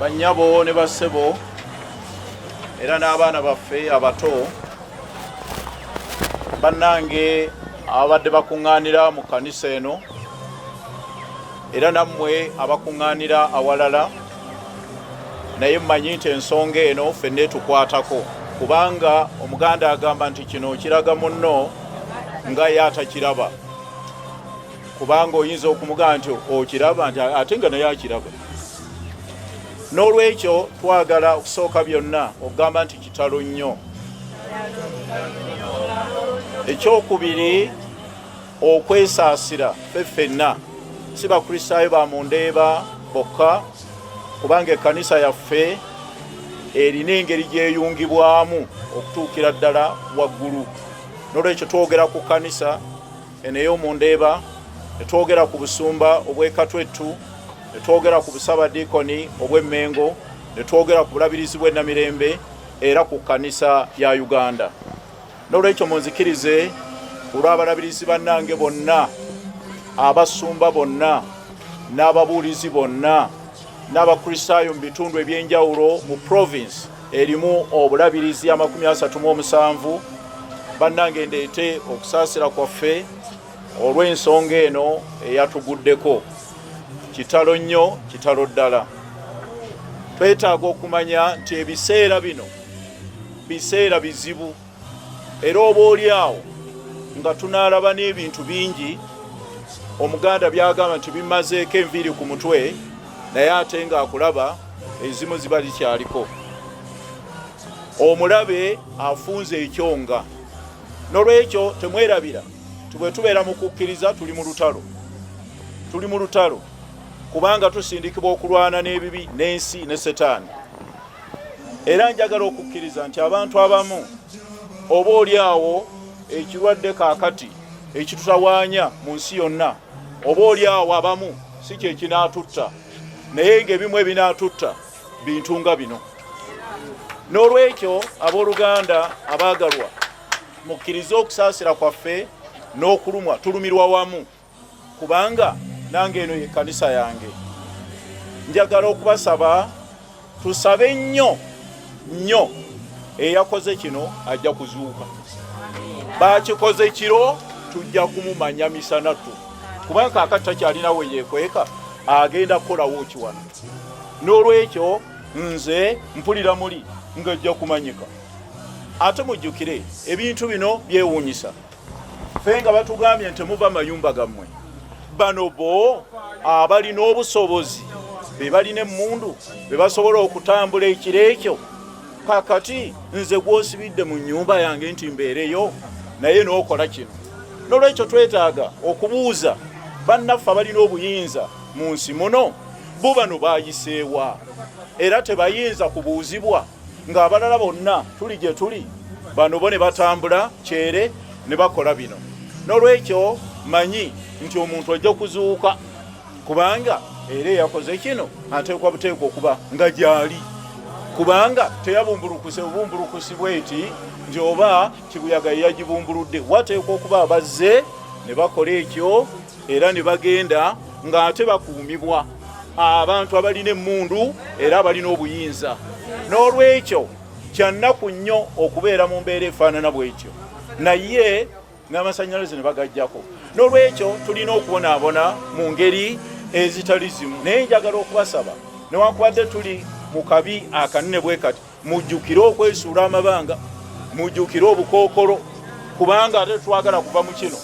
bannyabo ne bassebo era n'abaana baffe abato bannange ababadde bakuŋŋaanira mu kkanisa eno era nammwe abakuŋŋaanira awalala naye mmanyi nti ensonga eno fenna etukwatako kubanga omuganda agamba nti kino okiraga munno nga ye atakiraba kubanga oyinza okumugamba nti okiraba nti ate nga naye akiraba n'olwekyo twagala okusooka byonna okugamba nti kitalo nnyo ekyokubiri okwesaasira ffe ffenna si bakristaayo ba mu ndeeba bokka kubanga ekkanisa yaffe erina engeri gyeyungibwamu okutuukira ddala waggulu nolwekyo twogera ku kkanisa eno ey'omu ndeeba netwogera ku busumba obwekatwettu netwogera ku busabadiikoni obw'emmengo netwogera ku bulabirizi bw'enamirembe era ku kkanisa ya uganda N'olwekyo munzikirize olw'abalabirizi bannange bonna abasumba bonna n'ababuulizi bonna n'abakristaayo mu bitundu eby'enjawulo mu province erimu obulabirizi amakumi asatu mu omusanvu bannange ndeete okusaasira kwaffe olw'ensonga eno eyatuguddeko kitalo nnyo kitalo ddala twetaaga okumanya nti ebiseera bino biseera bizibu era oba oli awo nga tunaalaba n'ebintu bingi omuganda byagamba nti bimazeeko enviiri ku mutwe naye ate ng'akulaba ezimu ziba likyaliko omulabe afunze ekyonga nolwekyo temwerabira tibwetubeera mu kukkiriza tuli mu lutalo tuli mu lutalo kubanga tusindikibwa okulwana n'ebibi n'ensi ne setaani era njagala okukkiriza nti abantu abamu oba oli awo ekirwadde kaakati ekitutawaanya mu nsi yonna oba oli awo abamu si kyekinaatutta naye ng'ebimu ebinaatutta bintu nga bino n'olwekyo abooluganda abaagalwa mukkirize okusaasira kwaffe n'okulumwa tulumirwa wamu kubanga nange eno ye kanisa yange njagala okubasaba tusabe nnyo nnyo eyakoze kino ajja kuzuuka bakikoze kiro tujja kumumanya misanatu kubanga kakati takyalina we yekweka agenda kukolawo kiwano n'olwekyo nze mpulira muli ng'ejja kumanyika ate mujjukire ebintu bino byewuunyisa fe nga batugambye nti muva mayumba gammwe bano bo abalina obusobozi be balina emmundu be basobola okutambula ekiro ekyo kakati nze gwosibidde mu nyumba yange nti mbeereyo naye n'okola kino nolwekyo twetaaga okubuuza bannaffe abalina obuyinza mu nsi muno bo bano bayiseewa era tebayinza kubuuzibwa ng'abalala bonna tuli gye tuli bano bo ne batambula kyere ne bakola bino n'olwekyo manyi nti omuntu ajja kuzuuka kubanga era eyakoze kino ateekwa buteekwa okuba nga gyali kubanga teyabumbulukuse bubumbulukusi bweti nti oba kibuyaga yeyagibumbuludde wateekwa okuba abazze ne bakola ekyo era ne bagenda ng'ate bakuumibwa abantu abalina emmundu era abalina obuyinza n'olwekyo kyannaku nnyo okubeera mu mbeera efaanana bwetyo naye n'amasannyalaze ne bagajjako n'olwekyo tulina okubonaabona mu ngeri ezitali zimu naye njagala okubasaba newankubadde tuli mu kabi akanene bwe kati Mujjukire okwesuula amabanga, mujjukire obukookolo, kubanga ate twagala kuva mu kino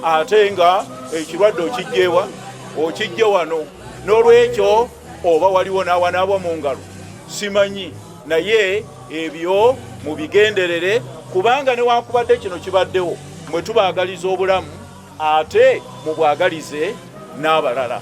ate nga ekirwadde okijjewa okijje wano. N'olwekyo oba waliwo n'awanaabwa mu ngalo simanyi, naye ebyo mubigenderere, kubanga newankubadde kino kibaddewo mwe tubaagaliza obulamu ate mubwagalize n'abalala.